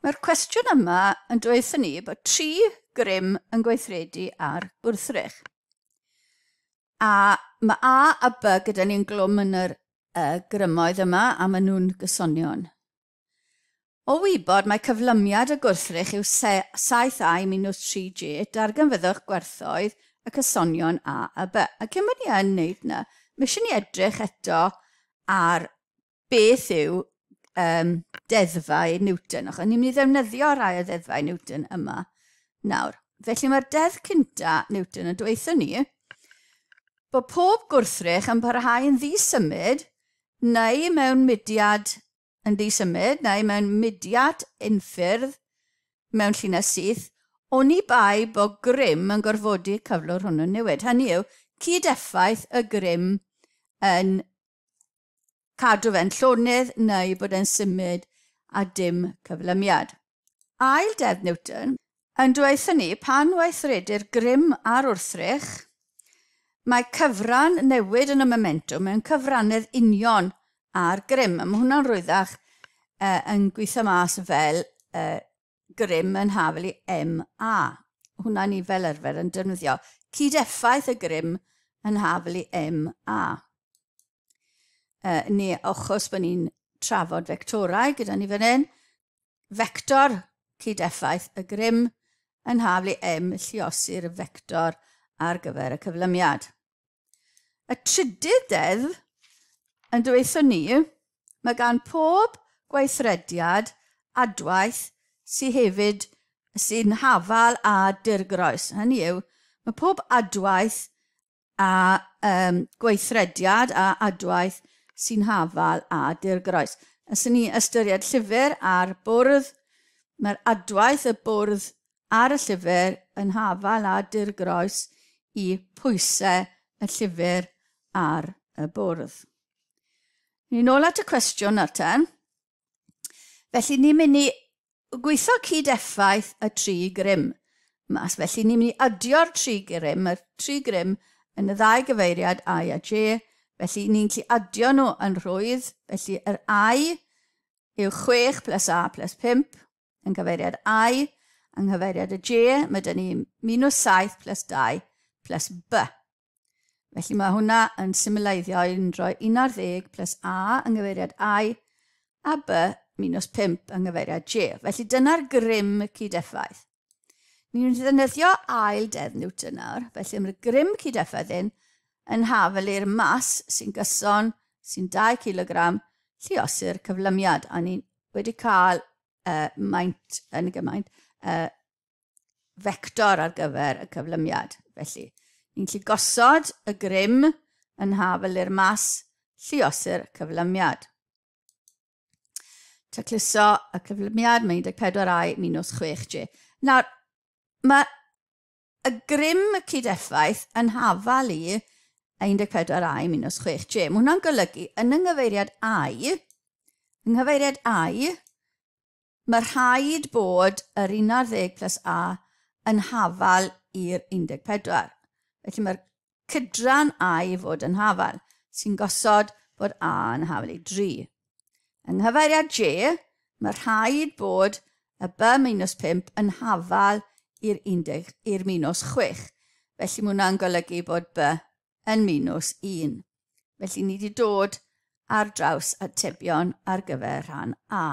Mae'r cwestiwn yma yn dweud ni bod tri grym yn gweithredu ar gwrthrych. A mae A a B gyda ni'n glwm yn yr uh, grymoedd yma a maen nhw'n gysonion. O wybod mai cyflymiad y gwrthrych yw saith ai minws tri jêt, darganfyddwch gwerthoedd y cysonion a a by. A cyn bod ni yn wneud na, mae eisiau ni edrych eto ar beth yw um, deddfau Newton, achos ni'n mynd i ddefnyddio rhai o ddeddfau Newton yma nawr. Felly mae'r deddf cynta Newton yn dweithio ni bod pob gwrthrych yn parhau yn ddisymud neu mewn mudiad yn ddisymud neu mewn mudiad unffurf mewn llinell syth, oni bai bo grym yn gorfodi cyflwr hwnnw newid, hynny yw, cyd-effaith y grym yn cadw fe'n llonydd neu bod e'n symud a dim cyflymiad. Ail Deddf Newton, yn dweud ni pan weithredir grym ar wrthrych, mae cyfran newid yn y momentwm mewn cyfrannedd union â'r grym. Mae hwnna'n rwyddach uh, yn gweithio mas fel uh, grym yn hafel i MA. Hwna ni fel arfer yn defnyddio cyd-effaith y grym yn hafel i MA. Uh, ni achos bod ni'n trafod fectorau gyda ni fan hyn, fector cyd-effaith y grym yn haflu i M lluosi'r fector ar gyfer y cyflymiad. Y trydydd deddf yn dweithio ni, mae gan pob gweithrediad adwaith sy'n hefyd sy'n hafal â dirgroes. Hynny yw, mae pob adwaith a um, gweithrediad a adwaith sy'n hafal a dirgroes. Os ni ystyried llyfr a'r bwrdd, mae'r adwaith y bwrdd ar y llyfr yn hafal a dirgroes i pwysau y llyfr ar y bwrdd. Ni'n ôl at y cwestiwn nawr ten. Felly ni'n mynd i gweithio cyd-effaith y tri grym mas. Felly ni'n mynd i adio'r tri grym, mae'r tri grym yn y ddau gyfeiriad I a J, felly ni'n gallu adio nhw yn rhwydd, felly yr I yw 6 plus A plus 5 yn cyfeiriad I, yng nghyfeiriad y J, mae dyn ni minus 7 plus 2 plus B. Felly mae hwnna yn symleiddio i undro 11 plus A yng nghyfeiriad I a B minus 5 yng nghyfeiriad J. Felly dyna'r grym y cyd-effaith. Ni'n mynd i ddefnyddio ail deddf Newton nawr, felly mae'r grym cyd-effaith hyn yn hafel i'r mas sy'n gyson, sy'n 2 kg, lliosu'r cyflymiad, a ni wedi cael uh, maint yn y gymaint uh, fector ar gyfer y cyflymiad. Felly, ni'n gallu gosod y grym yn haf yly'r mas lliosur cyflymiad. Tacluso y cyflymiad, mae 14i minus 6j. Nawr, mae y grym y cyd-effaith yn hafal i 14i minus 6j. Mae hwnna'n golygu yn yng nghyfeiriad i, yng nghyfeiriad i, Mae rhaid bod yr 11 plus A yn hafal i'r 14. Felly mae'r cydran A i fod yn hafal, sy'n gosod bod A yn hafal i 3. Yng nghyfeiriad J, mae rhaid bod y B minus 5 yn hafal i'r 10 i'r minus 6. Felly mae hwnna'n golygu bod B yn minws un. Felly ni wedi dod ar draws atebion ar gyfer rhan A.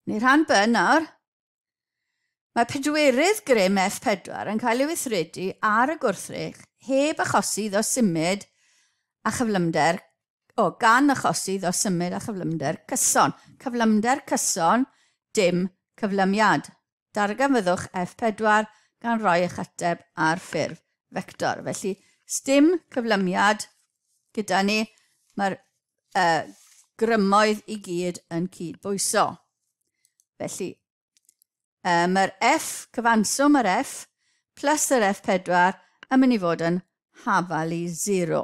Neu rhan B nawr. Mae pedwerydd grym F4 yn cael ei weithredu ar y gwrthrych heb achosi iddo symud a chyflymder o gan achosi iddo symud a chyflymder cyson. Cyflymder cyson, dim cyflymiad. Darganfyddwch F4 gan roi eich ateb ar ffurf fector. Felly, sdim cyflymiad gyda ni. Mae'r uh, grymoedd i gyd yn cyd-bwyso. Felly, uh, mae'r F, cyfanswm yr F, plus yr F4 yn mynd i fod yn hafal i 0.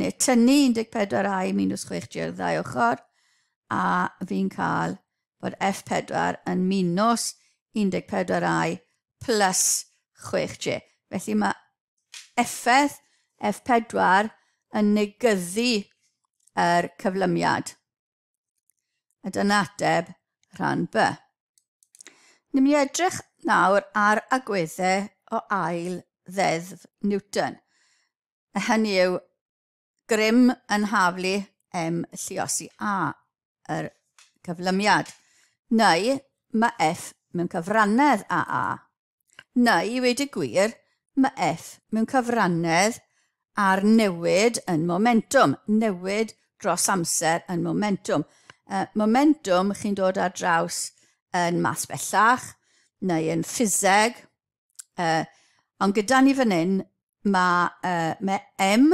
neu tynnu 14 i minus 6 G'r ddau ochr, a fi'n cael bod F4 yn minus 14i plus 6G. Felly mae effaith F4 yn negyddu yr cyflymiad. A dyna ateb rhan B. Ni'n mynd i edrych nawr ar agweddau o ail ddeddf Newton. A hynny yw, grym yn haflu em lliosi A yr cyflymiad. Neu mae F mewn cyfrannedd a A. Neu, i wedi gwir, mae F mewn cyfrannedd ar newid yn momentum, newid dros amser yn momentum. Uh, momentum chi'n dod ar draws yn math bellach, neu yn ffiseg, Uh, ond gyda ni fan hyn, mae, uh, mae M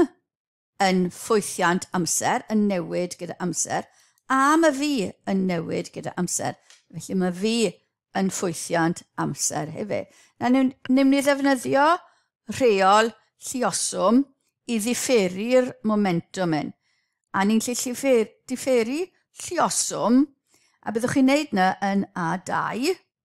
yn ffwythiant amser, yn newid gyda amser, a mae fi yn newid gyda amser. Felly mae fi yn ffwythiant amser hefyd. Na, niwn, niwn ni ddefnyddio rheol llioswm i ddifferu'r momentum hyn. A ni'n lle llifer, differu llioswm, a byddwch chi'n neud na yn A2,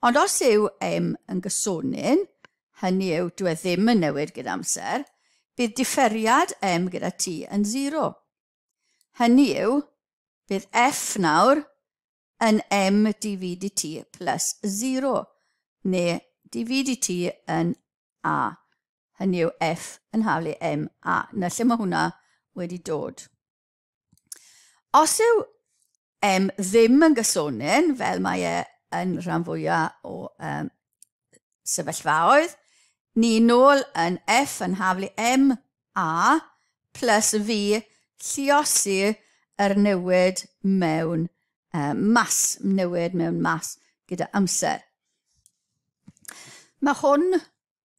Ond os yw eim yn gysonyn, hynny yw dyw e ddim yn newid gyda amser, bydd diferiad eim gyda t yn zero. Hynny yw, bydd f nawr yn m dv dt plus zero, neu dv dt yn a. Hynny yw f yn haflu m a. Na lle mae hwnna wedi dod. Os yw um, ddim yn gysonin, fel mae e yn rhan fwyaf o um, sefyllfaoedd, ni nôl yn F yn haflu M A plus V lliosi yr newid mewn uh, mas, newid mewn mas gyda amser. Mae hwn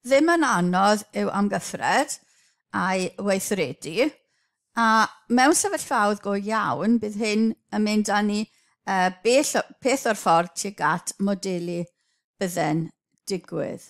ddim yn anodd i'w amgyffred a'i weithredu, a mewn sefyllfaoedd go iawn bydd hyn yn mynd â ni bell o peth o'r ffordd tuag at modelu bydde'n digwydd.